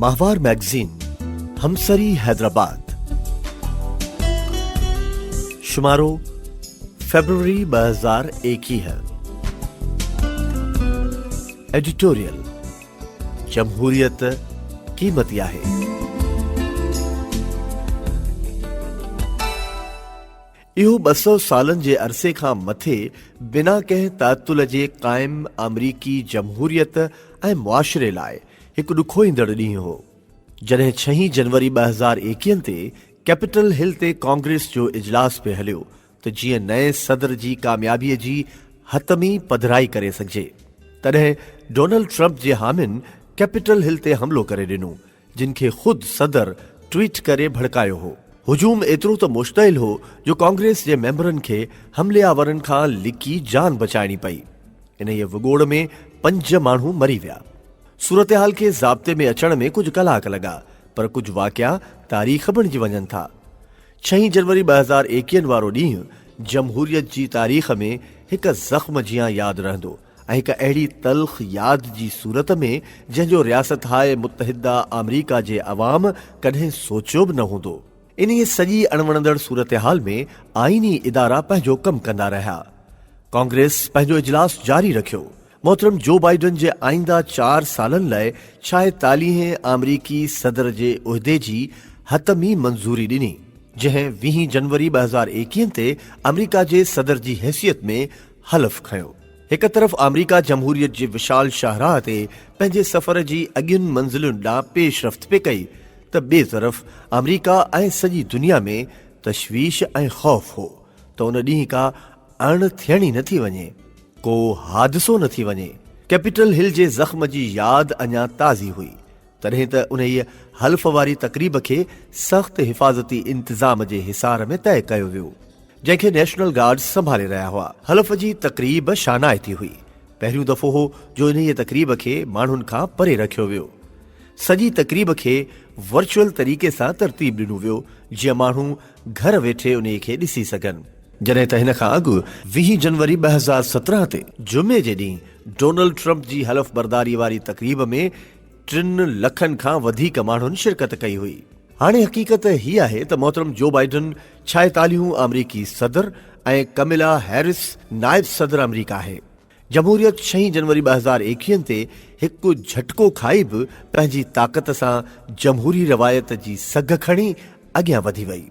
ماهوار مئگزين، همسري حيدرآباد، شمارو، فيبروري ٻه هزار ايڪيهه، ايڊيٽوريل، جمهوريت قيمتي آهي. اهو ٻه سؤ سالن جي عرصي کان مٿي بنا ڪنهن تعطل جي قائم آمريڪي جمهوريت ۽ معاشري لاء هڪ ڏکوئيندڙ ڏينهن هو، جڏهن ڇهين جنوري ٻه هزار ايڪيهن تي ڪيپيٽل هل تي ڪانگريس جو اجلاس پئي هليو ته جيئن نئين صدر جي ڪاميابي جي حتمي پڌرائي ڪري سگهجي، تڏهن ڊونلڊ ٽرمپ جي حامين ڪيپيٽل هل تي حملو ڪري ڏنو. جن کي خود صدر ٽوئيٽ ڪري ڀڙڪايو هو. هجوم ايترو ته مشتعل هو جو ڪانگريس جي ميمبرن کي حملي آورن کان لڪي جان بچائڻي پئي. انهيء وڳوڙ ۾ پنج ماڻهو مري ويا. صورتحال کي ضابطي ۾ اچڻ ۾ ڪجهه ڪلاڪ لڳا پر ڪجهه واقعا تاريخ بڻجي وڃن ٿا. ڇهين جنوري ٻه هزار ايڪيهن وارو ڏينهن جمهوريت جي تاريخ ۾ هڪ زخم جيان ياد رهندو. ۽ هڪ اهڙي تلخ ياد جي صورت ۾ جنهن جو رياستهاء متحده آمريڪا جي عوام ڪڏهن سوچيو به نه هوندو. انهيء سڄي اڻوڻندڙ صورتحال ۾ آئيني ادارا پنهنجو ڪم ڪندا رهيا. ڪانگريس پنهنجو اجلاس جاري رکيو. محترم جو بائيڊن جي آئينده چار سالن لاء ڇائيتاليهين آمريڪي صدر جي عهدي جي حتمي منظوري ڏني، جنهن ويهين جنوري ٻه هزار ايڪيهن تي آمريڪا جي صدر جي حيثيت ۾ حلف کنيو. هڪ طرف آمريڪا جمهوريت جي وشال شاهراهه تي پنهنجي سفر جي اڳين منزلن ڏانهن پيش رفت پئي ڪئي ته ٻئي طرف آمريڪا ۽ سڄي دنيا ۾ تشويش ۽ خوف هو ته ان ڏينهن ڪا اڻ ٿيڻي نه ٿي وڃي، ڪو حادثو نه ٿي وڃي. ڪيپيٽل هل جي زخم جي ياد اڃا تازي هئي. تڏهن ته انهيء حلف واري تقريب کي سخت حفاظتي انتظام جي حصار ۾ طئي ڪيو ويو، جنهن کي نيشنل گارڊز سنڀالي رهيا هئا. حلف جي تقريب شانائتي هئي. پهريون دفعو هو جو انهيء تقريب کي ماڻهن کان پري رکيو ويو. سڄي تقريب کي ورچوئل طريقي سان ترتيب ڏنو ويو، جيئن ماڻهو گهر ويٺي انهيء کي ڏسي سگهن. جڏهن ته هن کان اڳ ويهه جنوري ٻه هزار سترهن تي جمعي جي ڏينهن ڊونلڊ ٽرمپ جي حلف برداري واري تقريب ۾ ٽن لکن کان وڌيڪ ماڻهن شرڪت ڪئي هئي. هاڻي حقيقت هي آهي ته محترم جو بائيڊن ڇائيتاليهون آمريڪي صدر ۽ ڪملا هيرس نائب صدر آمريڪا آهي. جمهوريت ڇهين جنوري ٻه هزار ايڪيهن تي هڪ جهٽڪو کائي به پنهنجي طاقت سان جمهوري روايت جي سگهه کڻي اڳيان وڌي وئي.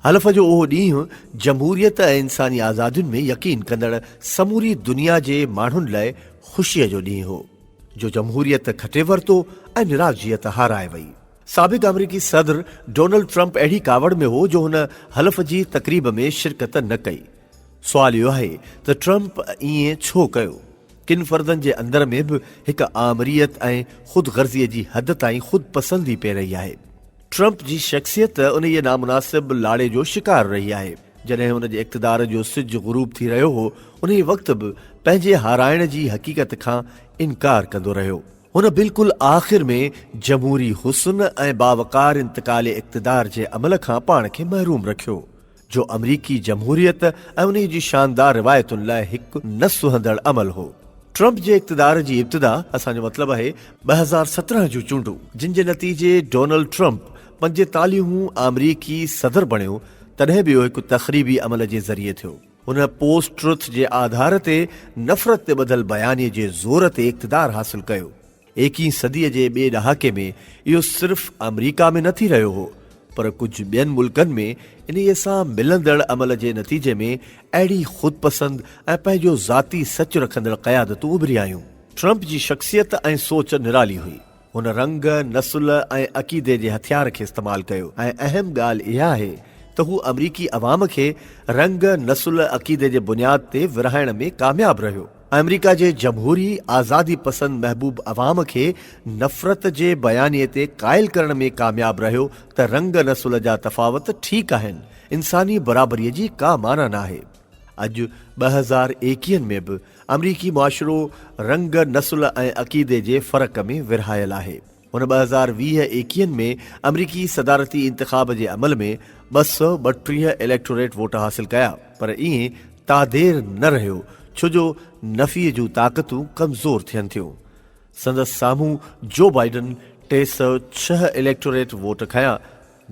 حلف جو اهو ڏينهن جمهوريت ۽ انساني آزادين ۾ يقين ڪندڙ سموري دنيا جي ماڻهن لاء خوشيء جو ڏينهن هو، جو جمهوريت کٽي ورتو ۽ نراضيت هارائي وئي. سابق آمريڪي صدر ڊونلڊ ٽرمپ اهڙي ڪاوڙ ۾ هو جو هن حلف جي تقريب ۾ شرڪت نه ڪئي. سوال اهو آهي ته ٽرمپ ائين ڇو ڪيو؟ ڪن فردن جي اندر ۾ به هڪ آمريت ۽ خود غرضيء جي حد تائين خود پسندي پئي رهي آهي. ٽرمپ جي شخصيت انهيء نامناسب لاڙي جو شڪار رهي آهي. جڏهن هن جي اقتدار جو سج غروب ٿي رهيو هو، انهيء وقت به پنهنجي هارائڻ جي حقيقت کان انڪار ڪندو رهيو. هن بلڪل آخر ۾ جمهوري حسن ۽ باوقار انتقال اقتدار جي عمل کان پاڻ کي محروم رکيو. جو آمريڪي جمهوريت ۽ انهي جي شاندار روايتن لاء هڪ نه سهندڙ عمل هو. ٽرمپ جي اقتدار جي ابتدا اسان جو مطلب آهي ٻه هزار سترهن جون چونڊون جن جي نتيجي ڊونلڊ ٽرمپ پنجيتاليهون آمريڪي صدر بڻيو تڏهن به اهو هڪ تخريبي عمل جي ذريعي ٿيو. هن پوسٽ ٽروٿ جي آڌار تي نفرت تي ٻڌل بيانيي جي زور تي اقتدار حاصل ڪيو. ايڪيهين صديء جي ٻئي ڏهاڪي ۾ اهو صرف آمريڪا ۾ نه ٿي رهيو هو پر ڪجهه ٻين ملڪن ۾ انهيء سان ملندڙ عمل جي نتيجي ۾ اهڙي خودپسند ۽ پنهنجو ذاتي سچ رکندڙ قيادتون اڀري آيون. ٽرمپ جي شخصيت ۽ سوچ نرالي هئي. هن رنگ، نسل ۽ عقيدي جي هٿيار کي استعمال ڪيو ۽ اهم ڳالهه اها آهي ته هو آمريڪي عوام کي رنگ، نسل، عقيدي جي بنياد تي ورهائڻ ۾ ڪامياب رهيو. آمريڪا جي جمهوري آزادي پسند محبوب عوام کي نفرت جي بيانيي تي قائل ڪرڻ ۾ ڪامياب رهيو ته رنگ نسل جا تفاوت ٺيڪ آهن، انساني برابريء جي ڪا معنيٰ ناهي. اڄ ٻه هزار ايڪيهن ۾ به آمريڪي معاشرو رنگ، نسل ۽ عقيدي جي فرق ۾ ورهايل آهي. هن ٻه هزار ويهه ايڪيهن ۾ آمريڪي صدارتي انتخاب جي عمل ۾ ٻه سؤ ٻٽيهه اليڪٽوريٽ ووٽ حاصل ڪيا پر ائين تادير نه رهيو ڇو جو نفيء جون طاقتون ڪمزور ٿين ٿيون. سندس سامهون جو بائيڊن ٽي سؤ ڇهه اليڪٽوريٽ ووٽ کنيا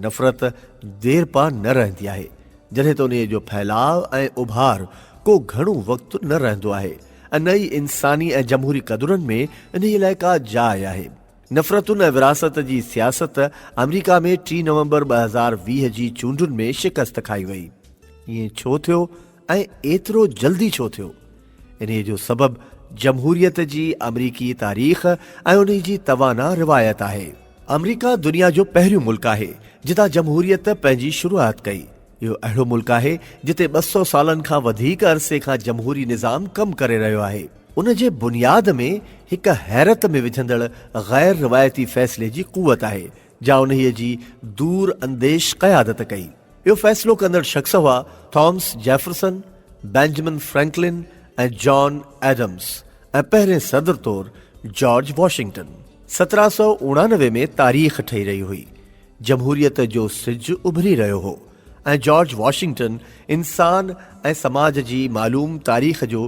نفرت ديرپا نه رهندي آهي، جڏهن ته انهيء جو ڦهلاء ۽ اڀار ڪو گهڻو وقت نه رهندو آهي ۽ نه ئي انساني ۽ جمهوري قدرن ۾ انهيء لاء ڪا جاء آهي. نفرتن ۽ ورهاست جي سياست آمريڪا ۾ ٽي نومبر ٻه هزار ويهه جي چونڊن ۾ شڪست کائي وئي. ائين ڇو ٿيو ۽ ايترو جلدي ڇو ٿيو؟ انهيء جو سبب جمهوريت جي آمريڪي تاريخ ۽ انهي جي توانا روايت آهي. آمريڪا دنيا جو پهريون ملڪ آهي جتان جمهوريت پنهنجي شروعات ڪئي. اهو اهڙو ملڪ آهي جتي ٻه سؤ سالن کان وڌيڪ عرصي کان جمهوري نظام ڪم ڪري رهيو آهي. ان جي بنياد ۾ هڪ حيرت ۾ وجهندڙ غير روايتي فيصلي جي قوت آهي جا انهيء جي دور انديش قيادت ڪئي. اهو فيصلو ڪندڙ شخص هئا Thomas Jefferson, Benjamin Franklin ۽ John Adams ۽ پهرين صدر طور جارج واشنگٽن. سترهن سؤ اڻانوي ۾ تاريخ ٺهي رهي هئي. جمهوريت جو سج اڀري رهيو هو ۽ جارج واشنگٽن انسان ۽ سماج جي معلوم تاريخ جو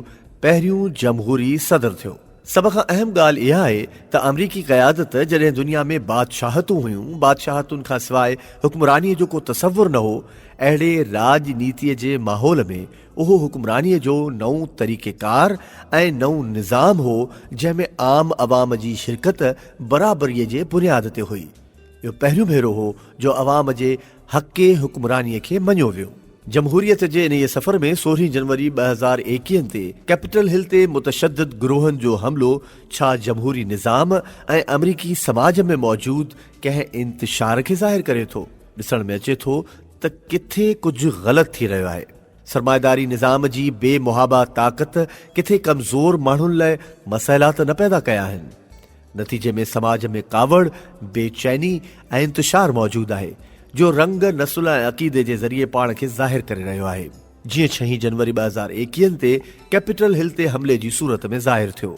پهريون جمهوري صدر ٿيو. سڀ کان اهم ڳالهه اها آهي ته آمريڪي قيادت جڏهن دنيا ۾ بادشاهتون هيون، بادشاهتن کان سواء حڪمرانيء جو ڪو تصور نه هو، اهڙي راڄ نيتيء جي ماحول ۾ اهو حڪمرانيء جو نئون طريقيڪار ۽ نئون نظام هو جنهن ۾ عام عوام جي شرڪت برابريء جي بنياد تي هئي. اهو پهريون ڀيرو هو جو عوام جي حقي حڪمراني کي مڃيو ويو. جمهوريت جي انهيء سفر ۾ سورهين جنوري ٻه هزار ايڪيهن تي ڪيپيٽل هل تي متشدد گروهن جو حملو ڇا جمهوري نظام ۽ آمريڪي سماج ۾ موجود ڪنهن انتشار کي ظاهر ڪري ٿو؟ ڏسڻ ۾ اچي ٿو ته ڪٿي ڪجهه غلط ٿي رهيو آهي. سرمائيداري نظام جي بي محابا طاقت ڪٿي ڪمزور ماڻهن لاء مسئلا ته نه پيدا ڪيا آهن؟ نتيجي ۾ سماج ۾ ڪاوڙ، بي چيني ۽ انتشار موجود آهي، جو رنگ، نسل ۽ عقيدي جي ذريعي پاڻ کي ظاهر ڪري رهيو آهي. جيئن ڇهين جنوري ٻه هزار ايڪيهن تي ڪيپيٽل هل تي حملي جي صورت ۾ ظاهر ٿيو.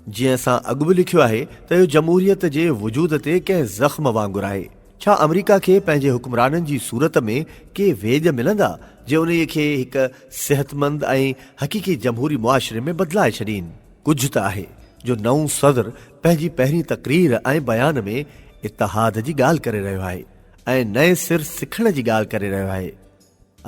جيئن اسان اڳ به لکيو آهي ته اهو جمهوريت جي وجود تي ڪنهن زخم وانگر آهي. ڇا آمريڪا کي پنهنجي حڪمرانن جي صورت ۾ ڪي ويڄ ملندا، جي انهيء کي هڪ صحتمند ۽ حقيقي جمهوري معاشري ۾ بدلائي ڇڏين؟ ڪجهه ته آهي جو نئون صدر پنهنجي پهرين تقرير ۽ بيان ۾ اتحاد جي ڳالهه ڪري رهيو آهي ۽ نئين سر سکڻ جي ڳالهه ڪري رهيو آهي.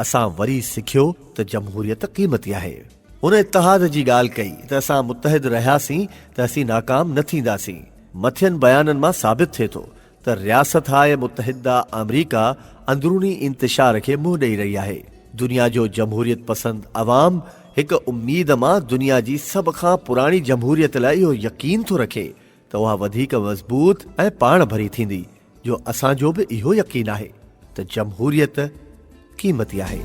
اسان وري سکيو ته جمهوريت قيمتي آهي. هن اتحاد جي ڳالهه ڪئي ته اسان متحد رهياسين ته اسين ناڪام نه ٿينداسين. مٿين بيانن مان ثابت ٿئي ٿو ته رياستهائي متحده آمريڪا اندروني انتشار کي منهن ڏئي رهي آهي. دنيا جو جمهوريت پسند عوام هڪ اميد مان دنيا جي سڀ کان پراڻي جمهوريت لاء اهو يقين ٿو رکي ته اها وڌيڪ مضبوط ۽ پاڻ ڀري ٿيندي جو اسان جو به اهو يقين آهي ته جمهوريت قيمتي آهي.